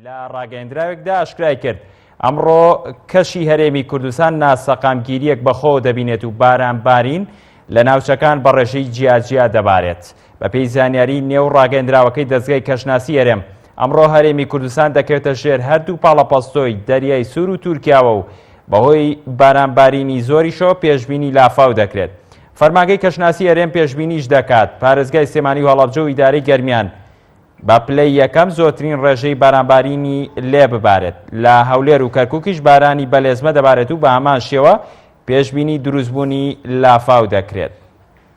لە ڕاگەندراوێکدا ئاشکرای کرد ئەمڕۆ کەشی هەرێمی کوردستان ناسەقامگیریەک بەخۆ دەبینێت و باران بارین لە ناوچەکان بەڕێژەی جیاجیا دەبارێت بەپێی زانیاری نێو ڕاگەندراوەکەی دەزگای کەشناسی هەرێم، ئەمڕۆ هەرێمی کوردستان دەکەوێتە ژێر هەردوو پاڵەپەستۆی دەریای سوور و تورکیاوە و بەهۆی بارانبارینی زۆریشەوە پێشبینی لافاو دەکرێت. فەرمانگەی کەشناسی هەرێم پێشبینیش دەکات، پارێزگای سلێمانی و هەڵەبجە و ئیدارەی گەرمیان بە پلەی یەکەم زۆرترین ڕێژەی بارانبارینی لێ ببارێت، لە هەولێر و کەرکوکیش بارانی بەلێزمە دەبارێت و بەهەمان شێوە پێشبینی دروستبوونی لافاو دەکرێت.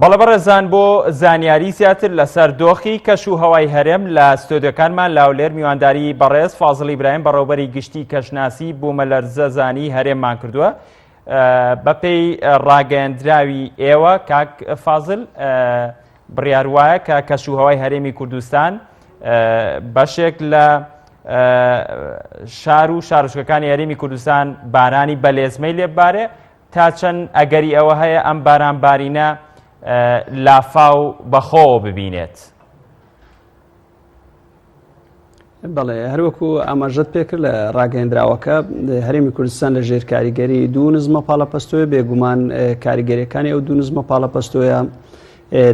بەڵە بەڕێزان بۆ زانیاری زیاتر لەسەر دۆخی کەش و هەوای هەرێم لە ستۆدیەکانمان لاولێر میوانداری بەڕێز فازڵی برایم بەڕێوبەری گشتی کەشناسی بوومەلەرزەزانی هەرێممان کردووە بەپێی ڕاگەیەندراوی ئێوە کاک فازل بڕیار وایە کە کەشوهوای هەرێمی کوردستان بەشێک لە شار و شارشکەکانی هەرێمی کوردستان بارانی بەلێزمەی لێبارێ تا چەند ئەگەری ئەوە هەیە ئەم باران بارینە لافاو بەخۆوە ببینێت. بەڵێ هەروەکو ئاماژەت پێکرد لە ڕاگەندراوەکە هەرێمی کوردستان لە ژێر کاریگەری دوو نزمە پاڵەپەستۆی بێگومان کاریگەریەکانی ئەو دوو نزمە پاڵەپەستۆیە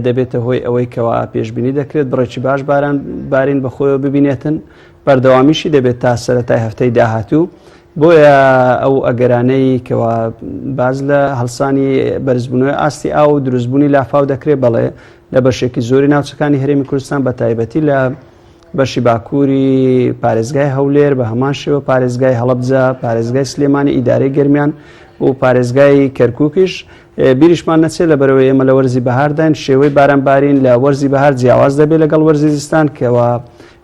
دەبێتە هۆی ئەوەی کەوا پێشببینی دەکرێت بڕێکی باش باران بارین بەخۆیەوە ببینێتن بەردەوامیشی دەبێت تا سەرەتای هەفتەی داهاتوو بۆیە ئەو ئەگەرانەی کەوا باز لە هەڵسانی بەرزبوونەوەی ئاستی ئاو و دروستبوونی لافاو دەکرێت بەڵێ لە بەشێکی زۆری ناوچەکانی هەرێمی کوردستان بە تایبەتی لە بەشی باکووری پارێزگای هەولێر بە هەمان شێوە پارێزگای هەڵبجە پارێزگای سلێمانی ئیدارەی گەرمیان و پارێزگای کەرکووکیش بیریشمان نەچێت لە بەرەوەی ئێمە لە وەرزی بەهارداین شێوەی بارانبارین لە وەرزی بەهار جیاواز دەبێت لەگەڵ وەرزی زستان کەەوە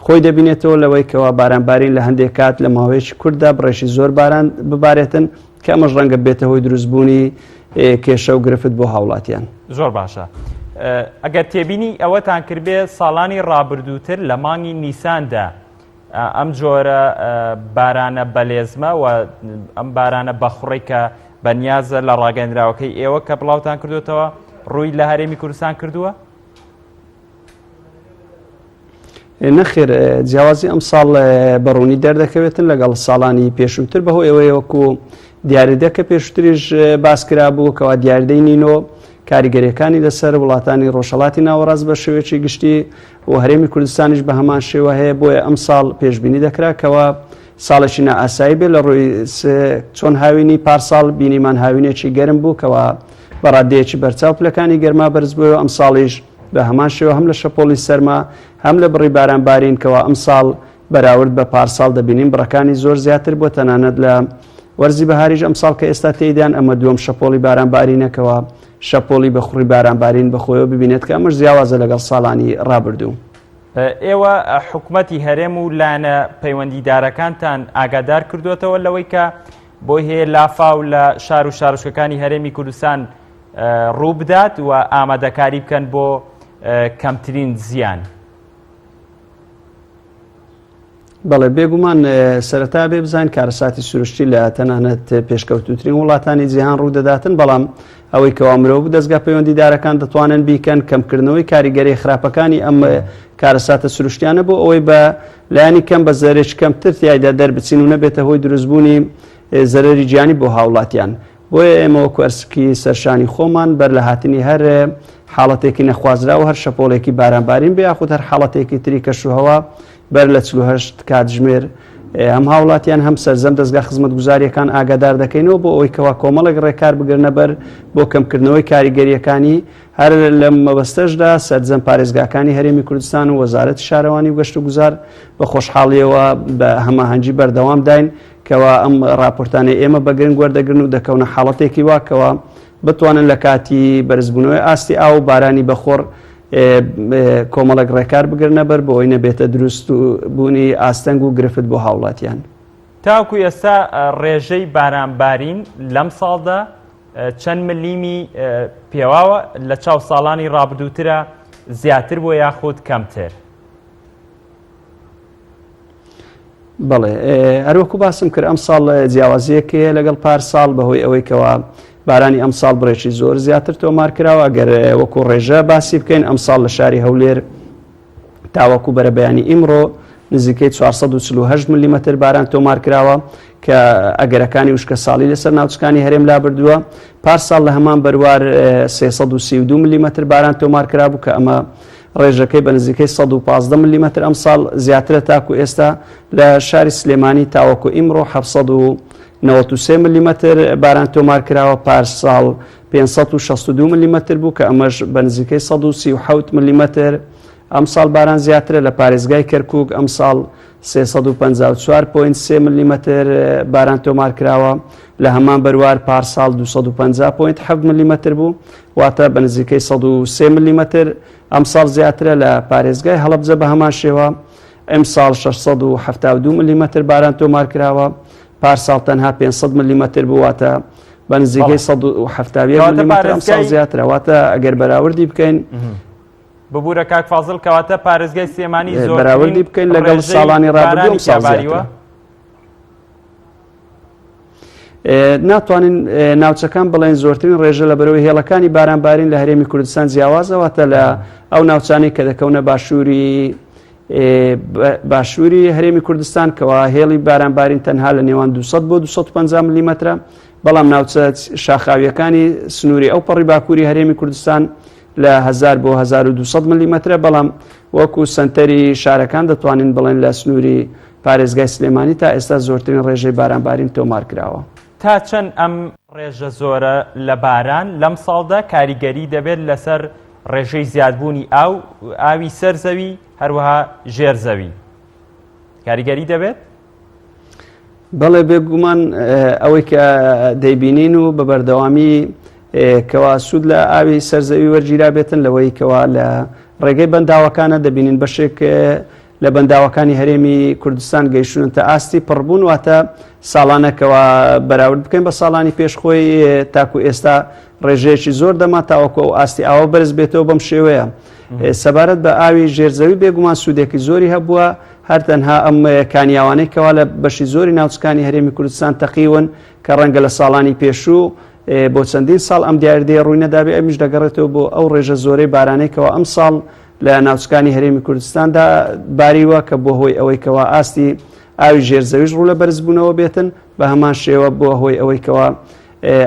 خۆی دەبینێتەوە لەوەی کەوا بارانبارین لە هەندێک کات لە ماوەیەکی کورددا بڕێکی زۆر باران ببارێتن کە ئەمەش ڕەنگە بێتە هۆی دروست بوونی کێشە و گرفت بۆ هاوڵاتیان زۆر باشە ئەگەر تێبینی ئەوەتان کردبێ ساڵانی ڕابردووتر لە مانگی نیساندا ئەم جۆرە بارانە بەلێزمە و ئەم بارانە بەخڕی کە بەنیازە لە ڕاگەندراوەکەی ئێوە کە بڵاوتان کردوێتەوە ڕووی لە هەرێمی کوردستان کردووە نەخێر جیاوازی ئەم ساڵ بەڕوونی دەردەکەوێتن لەگەڵ ساڵانی پێشووتر بەهۆ ئەوەیە وەکو دیاریدەکە پێشتریش باسکرا بوو کەوا دیاردەی نینۆ کاریگەریەکانی لەسەر وڵاتانی ڕۆژهڵاتی ناوەڕاست بە شێوێکی گشتی و هەرێمی کوردستانیش بە هەمان شێوە هەیە بۆیە ئەم ساڵ پێشببینی دەکرا کەەوە ساڵێکی نائاسایی بێ لە ڕووی چۆن هاوینی پارساڵ بینیمان هاوینێکی گەرم بوو کەەوە بەڕادەیەکی بەرچاو پلەکانی گەرما بەرز بووەوە ئەم ساڵیش بە هەمان شێوە هەم لە شەپۆڵی سەرما هەم لە بڕی باران بارین کەوا ئەمساڵ بەراورد بە پارساڵ دەبینین بڕەکانی زۆر زیاتر بۆ تەنانەت لە وەرزی بەهاریش ئەمساڵ کە ئێستا تێیدان ئەمە دووەم شەپۆڵی باران بارینەکەوە شەپۆڵی بە خوڕی باران بارین بەخۆیەوە ببینێت کە ئەمەش زیاوازە لەگەڵ ساڵانی ڕابردوو. ئێوە حکومەتی هەرێم و لایەنە پەیوەندیدارەکانتان ئاگادار کردوێتەوە لەوەی کە بۆی هەیە لافاو لە شار و شارشکەکانی هەرێمی کوردستان ڕووبدات و ئامادەکاری بکەن بۆ کەمترین زیان. بەڵێ بێگومان سەرەتا بێ بزان کارەساتی سروشتی لە تەنانەت پێشکەوتوترین وڵاتانی جیهان ڕوودەداتن بەڵام ئەوەی کەوا مرۆڤ دەستگا پەیوەندیدارەکان دەتوانن بیکەن کەمکردنەوەی کاریگەری خراپەکانی ئەم کارەساتە سروشتیانە بۆ ئەوەی بە لایانی کەم بە زەرێک کەمتر تایدا دەربچین و نەبێتە هۆی دروستبوونی زەرری گیانی بۆ هاوڵاتیان بۆیە ئێمە وەکو ئەرسکی سەرشانی خۆمان بەر لە هاتنی هەر حاڵەتێکی نەخوازراوە هەر شەپۆڵێکی بارانبارین بێ یاخود هەر حاڵەتێکی تری کەشوهەوا بەر لە چهشت کاتژمێر هەم هاوڵاتیان هەم سەررجەم دەستگا خزمەت گوزاریەکان ئاگادار دەکەینەوە بۆ ئەوی کەوا کۆمەڵێک ڕێکار بگرنەبەر بۆ کەمکردنەوەی کاریگەریەکانی هەر لە مەبەستەشدا سەررجەم پارێزگاکانی هەرێمی کوردستان و وەزارەت شارەوانی و گەشت و گوزار بە خۆشحاڵیەوە بە هەماهەنگی بەردەوام داین کەوا ئەم ڕاپۆرتانەی ئێمە بە گرنگ وەردەگرن و دەکەونە حاڵەتێکی وا کەوا بتوانن لە کاتی بەرزبوونەوەی ئاستی ئاو و بارانی بەخۆڕ کۆمەڵک ڕێکار بگرنە بەر بۆ ئەوی نەبێتە دروست و بوونی ئاستەنگ و گرفت بۆ هاوڵاتیان. تاکو ئێستا ڕێژەی بارانبارین لەم ساڵدا چەند ملیمی پێواوە لە چاو ساڵانی ڕابدووترە زیاتر بۆ یاخود کەمتر؟ بەڵێ هەروەکو باسم کرد ئەم ساڵ جیاوازیەکەیە لەگەڵ پار ساڵ بەهۆی ئەوەی کەەوە بارانی ئەم ساڵ بڕێکی زۆر زیاتر تۆمار کراوە گەر وەکو ڕێژە باسی بکەین ئەم ساڵ لە شاری هەولێر تاوەکو بەرە بەیانی ئیمڕۆ نزیکەی 448 ملیمەتر باران تۆمار کراوە کە ئەگەرەکانی وشکە ساڵی لەسەر ناوچکانی هەرێم لا بردووە پار ساڵ لە هەمان بەروار 332 ملیمەتر باران تۆمار کرابوو کە ئەمە ڕێژەکەی بە نزیکەی سەد و پازدە ملیمەتر ئەمساڵ زیاترە تاکو ئێستا، لە شاری سلێمانی تاوەکو ئیمڕۆ حەفت سەد و نەوەد و سێ ملیمەتر باران تۆمارکراوە، پارساڵ پێنج سەد و شەست و دوو ملیمەتر بوو کە ئەمەش بە نزیکەی سەد و سی و حەوت ملیمەتر ئەمساڵ باران زیاترە، لە پارێزگای کەرکوک ئەمساڵ سێ سەد و پەنجا و چوار پۆینت سێ ملیمەتر باران تۆمارکراوە، لە هەمان بەروار پارساڵ دوو سەد و پەنجا پۆینت حەفت ملیمەتر بوو، واتە بە نزیکەی سەد و سێ ملیمەتر، ئەمساڵ زیاترە، لە پارێزگای هەڵەبجە بە هەمان شێوە، ئەمساڵ شەش سەد و حەفتا و دوو ملیمەتر باران تۆمار کراوە، پارساڵ تەنها پێنج سەد ملیمەتر بوو، واتە بە نزیکەی سەد و حەفتا و یەک ملیمەتر ئەمساڵ زیاترە، واتە ئەگەر بەراوردی بکەین، ببورە کاک فازڵ کەواتە پارێزگای سلێمانی زۆر بەراوردی بکەین لەگەڵ ساڵانی ڕابردوو ئەمساڵ زیاترە. ناتوانین ناوچەکان بڵێن زۆرترین ڕێژە لە بەرەوەی هێڵەکانی بارانبارین لە هەرێمی کوردستان جیاوازەوەتە لە ئەو ناوچانی کە دەکەونە باشووری باشووری هەرێمی کوردستان کەوا هێڵی بارانبارین تەنها لە نێوان 200 بۆ 250 ملیمەترە بەڵام ناوچە شاخاویەکانی سنووری ئەو پەڕی باکووری هەرێمی کوردستان لە 1000 بۆ 1200 ملیمەترە بەڵام وەکو سەنتەری شارەکان دەتوانین بڵێن لە سنووری پارێزگای سلێمانی تا ئێستا زۆرترین ڕێژەی بارانبارین تۆمارکراوە. تا چەند ئەم ڕێژە زۆرە لە باران لەمساڵدا کاریگەری دەبێت لەسەر ڕێژەی زیادبوونی ئاو ئاوی سەر زەوی هەروەها ژێر زەوی کاریگەری دەبێت؟ بەڵێ بێگومان ئەوەی کە دەیبینین و بە بەردەوامی کەوا سوود لە ئاوی سەرزەوی وەرگیرا بێتن لەوەی کەوا لە ڕێگەی بەنداوەکانە دەبینین بەشێک لە بەنداوەکانی هەرێمی کوردستان گەیشتونن تا ئاستی پڕبوون واتە ساڵانەکەەوە بەراورد بکەین بە ساڵانی پێشخۆی تاکو ئێستا ڕێژەیەکی زۆر دەما تاوەکو ئەو ئاستی ئاوە بەرز بێتەوە بەم شێوەیە سەبارەت بە ئاوی ژێرزەوی بێگومان سوودێکی زۆری هەبووە هەر تەنها ئەم کانیاوانەی کەوا لە بەشی زۆری ناوچکانی هەرێمی کوردستان تەقیون کە ڕەنگە لە ساڵانی پێشوو بۆ چەندین ساڵ ئەم دیاردەیە ڕووی نەدابێ ئەمیش دەگەڕێتەوە بۆ ئەو ڕێژە زۆرەی بارانەی کەوا ئەم ساڵ لە ناوچکانی هەرێمی کوردستاندا باریوە کە بۆ هۆی ئەوەی کەوا ئاستی ئاوی ژێرزەویش ڕوو لە بەرزبوونەوە بێتن بە هەمان شێوە بۆ هۆی ئەوەی کەوا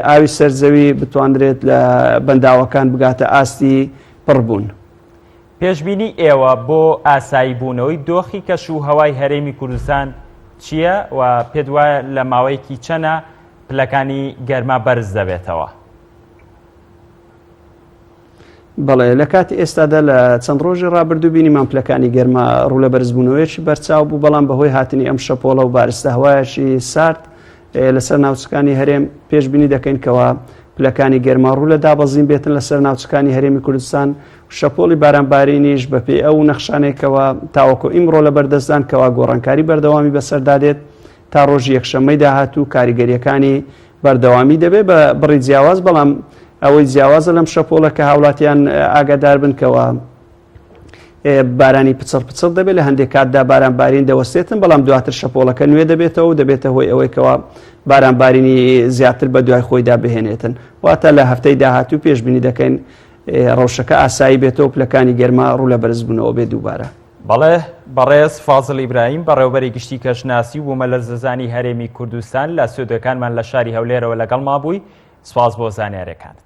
ئاوی سەرزەوی بتواندرێت لە بەنداوەکان بگاتە ئاستی پڕبوون. پێشبینی ئێوە بۆ ئاسایی بوونەوەی دۆخی کەش و هەوای هەرێمی کوردستان چییە و پێت وایە لە ماوەیەکی چەنە پلەکانی گەرما بەرز دەبێتەوە؟ بەڵێ لە کاتی ئێستادا لە چەند ڕۆژی ڕابردوو بینیمان پلەکانی گەرما ڕوو لە بەرزبوونەوەیەکی بەرچاو بوو بەڵام بەهۆی هاتنی ئەم شەپۆڵە و بارستە هەوایەکی سارد لەسەر ناوچەکانی هەرێم پێشببینی دەکەین کەەوە پلەکانی گەرما ڕوو لە دابەزین بێتن لەسەر ناوچەکانی هەرێمی کوردستان شەپۆڵی بارانبارینیش بەپێی ئەو نەخشانەی کەوا تاوەکۆ ئیمڕۆ لە بەردەستدان کەوا گۆڕانکاری بەردەوامی بەسەردادێت تا ڕۆژی یەکشەممەی داهاتوو کاریگەریەکانی بەردەوامی دەبێت بە بڕی جیاواز بەڵام ئەوەی جیاوازە لەم شەپۆڵە کە هاوڵاتیان ئاگادار بنکەوە بارانی پچڕ پچڕ دەبێت لە هەندێک کاتدا باران بارین دەوەستێتن بەڵام دواتر شەپۆڵەکە نوێ دەبێتەوە و دەبێتە هۆی ئەوەیکەوە باران بارینی زیاتر بە دوای خۆیدا بهێنێتن واتە لە هەفتەی داهاتوو پێشببینی دەکەین ڕەوشەکە ئاسایی بێتەوە پلەکانی گەرما ڕوو لە بەرزبوونەوە بێ دووبارە. بەڵێ بەڕێز فازل ئیبراهیم بەڕێوبەری گشتی کەشناسی و بوومەلەرزەزانی هەرێمی کوردستان لە سودەکانمان لە شاری هەولێرەوە لەگەڵ مابووی سپاس بۆ زانیارەکانت.